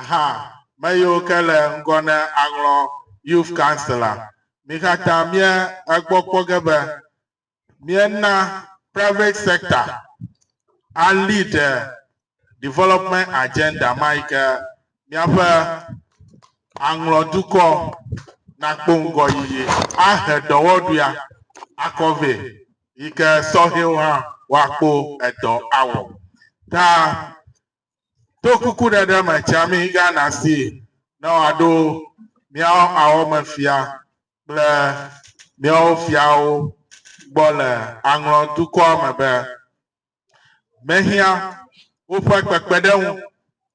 hã me yiwo ke le ŋgɔ ne aŋlɔ Youth Council la, mi katã mie egbɔ kpɔ ge be miena private sector a lead development agenda ma yi ke míaƒe aŋlɔ dukɔ nakpɔ ŋgɔ yiyi ahe dɔwɔɖuia akɔ vɛ yi ke sɔhɛwo hã woakpɔ edɔ awɔ. Ta to kukuɖeɖe me tsiami Ghana si ne wòaɖo míawo awɔmefia kple míawo fiawo gbɔ le aŋlɔ dukɔa me be mehiã woƒe kpekpeɖeŋu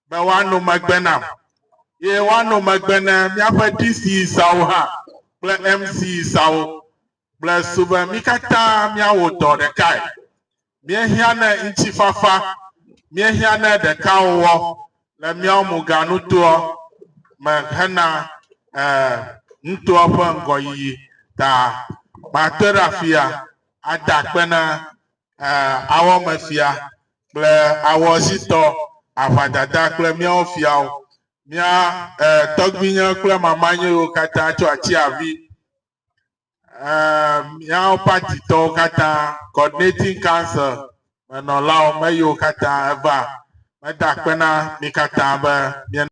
be woano megbe nam ye woano megbe ne míaƒe DC sawo hã kple MC sawo Gblɔe su be mí katã míawɔ dɔ ɖekae. Míehiã ne ŋutifafa, míehiã ne ɖekawɔwɔ le míawo muganutoa me hena nutoa ƒe ŋgɔyiyi ta. Makpe ɖe afia ada akpe na awɔmefia kple awɔzitɔ, aʋadada kple míawo fiawo, mía tɔgbuinye kple mamanyewo katã tso atsiavi eh, miawo patitɔwo katã coordinating council menɔlawo meyiwo katã eva meda kpe na mi katã be mie